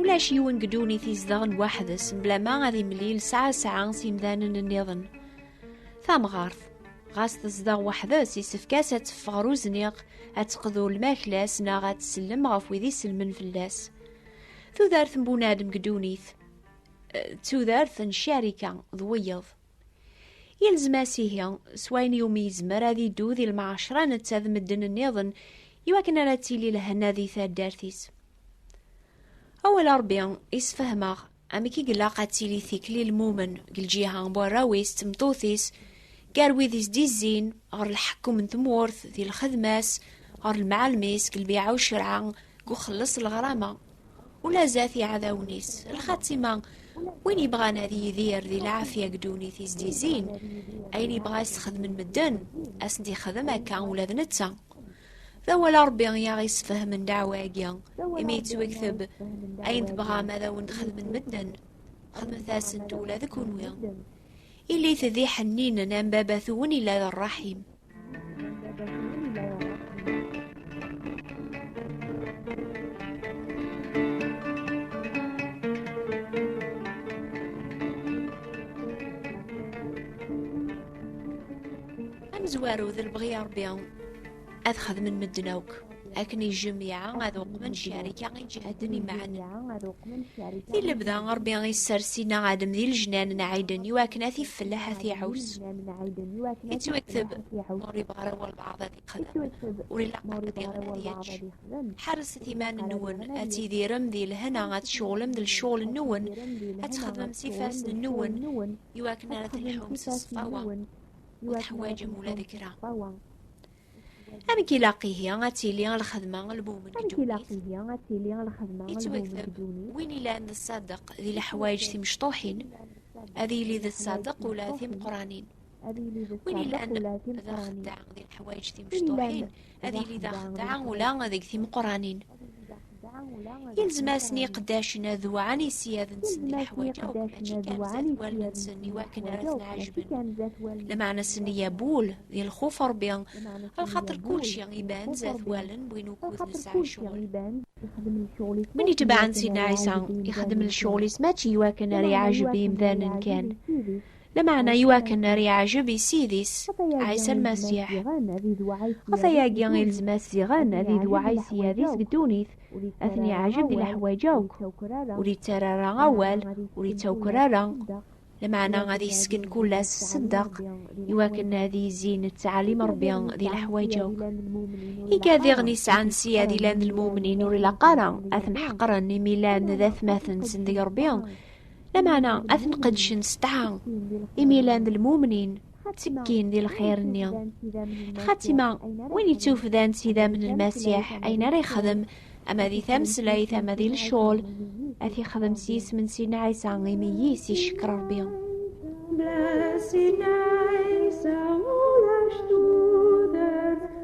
Ulac yiwen deg ddunit izedɣen waḥdes mblama ad imlil sɛa sɛa s imdanen nniḍen. Tamɣart, ɣas tezdeɣ waḥdes, yessefk-as ad teffeɣ ɣer uzniq, ad teqḍu lmakla-s neɣ ad tsellem ɣef wid isellmen fell-as. Tudert n bunadem deg ddunit, eh, d tudert n carika d wiyeḍ. Yelzem-as ihi, s wayen iwumi yezmer ad iddu di lmaɛacra netta d medden-nniḍen, iwakken ara d-tili lehna di taddart-is. Awal Ṛebbi isfehmeɣ amek i ilaq ad tili tikli lmumen deg lǧiha n warraw-is d tmeṭṭut-is, gar wid i s-d-izzin ɣer lḥekkum n tmurt, di lxedma-s, ɣer lemɛalem-is, deg lbiɛa ucerɛa, deg uxelleṣ n lɣrama, Ula zdat iɛdawen-is, lxatima, win yebɣan ad yidir di lɛafya deg ddunit i s-d-yezzin, ayen yebɣa ad s-xedmen medden, ad s-d-yexdem akka ula d netta. D awal n Ṛebbi i aɣ-yessefhamen ddeɛwa-agi, imi yettwekteb, Ayen tebɣam ad awen-t-xedmen medden, xedmet-asen-t ula d kenwi. Ilit d iḥenninen am baba-twen yella d ṛṛaḥim. amezwaru d lebɣi n Ṛebbi ad xedmen medden akk. akken i jemyaɛ ad uqmen ccarika i jehden imɛanen. I lebda Ṛebbi i ssers Sina Adem di lejnan n Ɛiden i wakken ad t-ifelleḥ ad t-iɛus. Ittwekteb ur ibɣa ara walbaɛḍ ad ixdem, ur ilaq ara diɣen ad yečč. Ḥerrset iman-nwen, ad tidirem di lehna, ad tceɣlem d lecɣel-nwen, ad txedmem s ifassen-nwen, i wakken ara telḥum s ṣṣfawa, ur teḥwaǧem ula d kra. Amek ilaq ihi ad tili lxedma lmum n Amek ilaq ihi ad tili lxedma yettwakteb win ilan d ṣṣadeq di leḥwayeǧ timecṭuḥin ad yili d ṣṣadeq ula timeqranin win ilan d axeddaɛ di leḥwayeǧ timecṭuḥin ad yili d axeddaɛ ula deg timeqranin Ilzem-asen iqeddacen ad wɛan i ssyad-nsen di leḥwaǧ akk, mačči kan zdat wallen-nsen i wakken ara ten-ɛejben. Lmeɛna-sen i abul, di lxuf n Ṛebbi, lxaṭer kulci iban zdat wallen n win ukud nesɛa ccɣel. Win itebɛen Sidna Ɛisa, ixeddem lecɣel-is mačči i wakken ara iɛejeb imdanen kan, Lameɛna i wakken ar yeɛjeb i Ssid-is, Ɛisa Lmasiḥ. Ɣef ayagi i lezm-as ziɣen ad idewɛa i Ssyad-is deg ddunit, ad ten-iɛjeb di leḥwayeǧ akk, ur ittarra ara awal, ur ittawker ara, lameɛna ad yesken kull-as sseddeq, i wakken ad yezzi nettɛalim Ṛebbi di leḥwayeǧ akk. Iga diɣen i sɛan Ssyad i llan d lmumnin ur ilaq ara ad ten-ḥeqren imi llan d atmaten-nsen deg Ṛebbi, Lameɛna ad ten-qedcen s tɛa, imi llan d lmumnin, ttekkin di lxir-nni. Lxatima, win yettufdan s idammen n Lmasiḥ, ayen ara yexdem, ama di tameslayt, ama di lecɣal, ad t-yexdem s yisem n Sidna Ɛisa, imi yis icekk Rebbi. Blessed night, so all our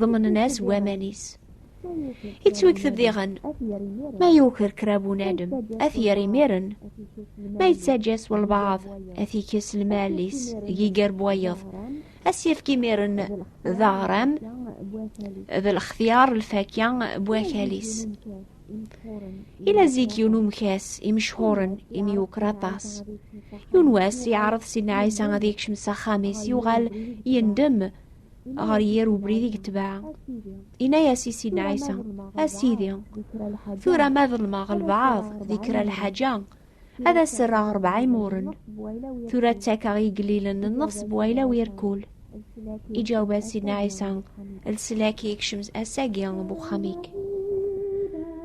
ḍemnen-as waman-is. Ittwekteb diɣen, ma yuker kra bunadem, ad t-yerr imiren, ma yettaǧǧa s walbaɛḍ, ad t-ikkes lmal-is, giger n wayeḍ, ad s-yefk imiren d aɣram, d lextyar lfakya n wakal-is. Ila zik yiwen umkas imecḥuren imi yuker aṭas. Yiwen wass yeɛreḍ Sidna Ɛisa ad yekcem s axxam-is yuɣal yendem ɣer yir ubrid i yetbeɛ inna-yas i sin ɛisa a sidi tura ma ḍelmeɣ lbaɛḍ di kra lḥaǧa ad as-rreɣ rebɛa imuren tura ttakeɣ igellilen n nnefs n wayla wirkul iǧaweb-as sin ɛisa leslak i yekcem ass-agi n uxxam-ik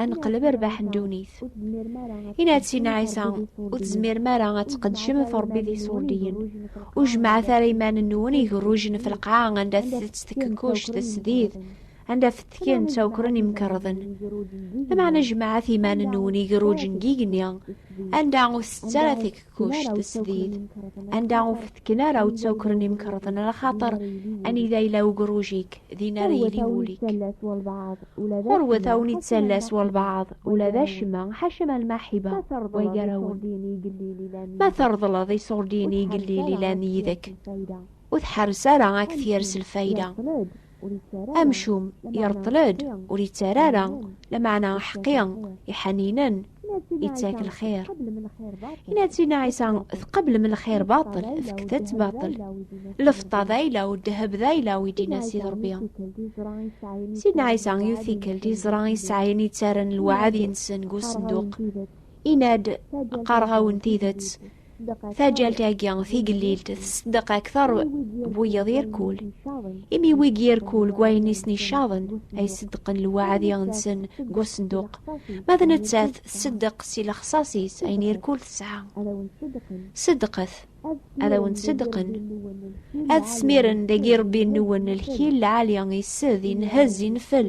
ad neqleb rbaḥ n ddunit. Ina-d Sina Ɛisa, ur tezmirem ara ad tqedcem ɣef Rebbi d iṣurdiyen. Ur jemɛet ara iman-nwen igerrujen ɣef lqaɛa anda tettett tkekkuct tesdid, anda fetken ttawkren imkerḍen. Lameɛna jemɛet iman-nwen igerrujen n yigenni, anda ur tettett ara kuc tesdid anda ur fetken ara ur ttawkren imkerḍen ala xaṭer anida yella ugruj-ik din ara yili wul-ik ɣurwet a wen ittallas walbaɛḍ ula d acemma ḥaca ma lmaḥiba wa gar-awen ma treḍleḍ iṣurdiyen i igellil ilan yid-k ur tḥerres ara ad k-tyers lfayda Amcum ireṭṭel-d ur yettara ara, lameɛna aḥeqqi iḥaninen ittak lxir. Inatina Ɛisa tqeblem lxir baṭel, fket-t baṭel. Lfeṭṭa d ayla u ddheb d ayla u idina Sid Ṛebbi. Sidna Ɛisa yiwet tikkelt iẓra isɛayen yettarran lweɛd-nsen deg usenduq. Ina-d, qqareɣ-awen tidet, Taǧǧalt-agi tigellilt tesdeq aktar n wiyaḍ irkul. Imi wigi irkul deg wayen i sen-icaḍen ay ṣeddqen lewɛadi-nsen deg usenduq, ma d nettat tṣeddeq si lexṣaṣ-is ayen irkul tesɛa. Ṣeddqet, ad awen-ṣeddqen. Ad smiren dagi Ṛebbi-nwen lkil lɛali, ised, inhez, infel,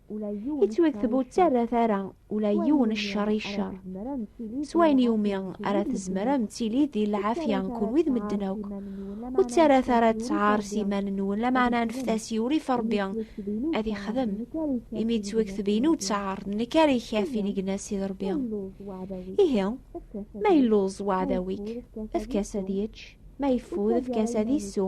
i tt-wekteb ur ttarrat ara ula yiwen ccer i ccer s wayen iwumi ara tezmer am tili di lɛafya kunwi d medden akk ur ttarrat ara ttɛar s iman-nwen lameɛna anfet-as i urif rebbi ad ixdem imi d twekteb inu ttɛar d nekk ara ikaf inegna sid rebbi ihi ma illuẓ waɛdaw-ik efk-as ad yečč ma yeffud efk-as ad isu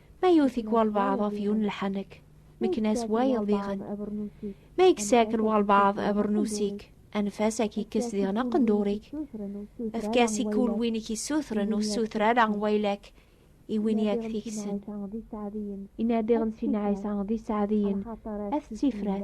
Ma yewwet-ik walbaɛḍ ɣef yiwen n lḥanek, mekken-as wayeḍ diɣen. Ma yekkes-ak-n walbaɛḍ abernus-ik, anef-as ad k-yekkes diɣen aqendur-ik. Efk-as i kul win i k-issutren, ur ssuter ara waylak i win i ak-t-yekksen. Inadiɣ n Sinɛa yesɛa d iseɛdiyen, at ttifrat.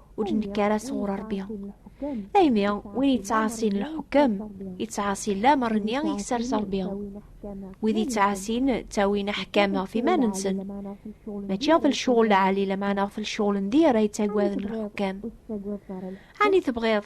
ur nekk ara sɣur Ṛebbi. Daymi, win yettɛaṣin lḥukem, yettɛaṣi lamer-nni i yessers Ṛebbi. Wid yettɛaṣin ttawin aḥkam ɣef iman-nsen. Mačči ɣef lecɣal lɛali, lameɛna ɣef lecɣal n dir ay ttagaden lḥukem. Ɛni tebɣiḍ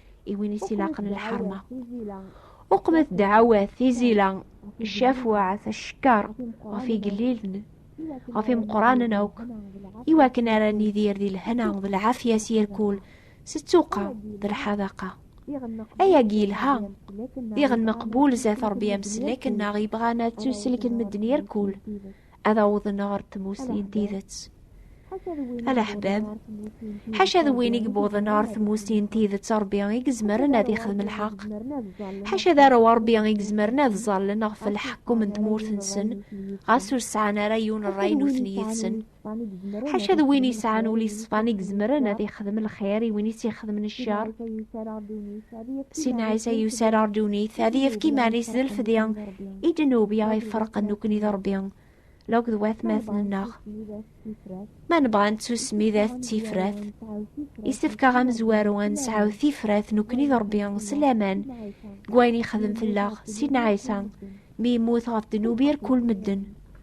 i win i s-ilaqen lḥerma uqmet dɛawat tizila cafwaɛt acekkaṛ ɣef igellilen ɣef imeqqranen akk i wakken ara nidir di lehna d lɛafya s yirkul s ttuqa d lḥadaqa ayagi yelha diɣen meqbul zat ṛebbi ameslek nneɣ yebɣan ad tuselken medden yirkul ad awḍen ɣer tmussni n tidet alaḥbab ḥaca d win i yewwḍen ɣer tmussni n tidet rebbi i yezmeren ad ixdem lḥeq ḥaca d arew rebbi i yezmeren ad ẓallen ɣef lḥekkum n tmurt-nsen ɣas ur sɛan ara yiwen ṛṛay nutni yid-sen ḥaca d win yesɛan ul iṣfan i yezmeren ad ixdem lxir i win i s-ixedmen ccer Sinɛisa yuser ar dunit ad yefk iman-is d lfedi i d-nubi ay ferqen nekkni d Rebbi law d watmaten-nneɣ. Ma nebɣa ad nettusmi d at tifrat, isefk-aɣ amezwaru ad nesɛu tifrat nekkni d Rebbi s laman deg wayen yexdem fell-aɣ Sinɛisa mi yemmut ɣef ddnub irkul medden.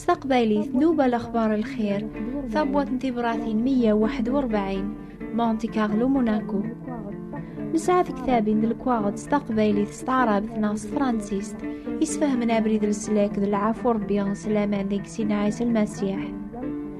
s taqbaylit nuba lexbar lxir tabwat n tibratin 141 monte carlo monaco nesɛa tektabin d lekwaɣeḍ s taqbaylit s taɛrabt neɣ s tefransist isfehmen abrid leslak d lɛafu rebbi s laman deg sin ɛisa lmasiḥ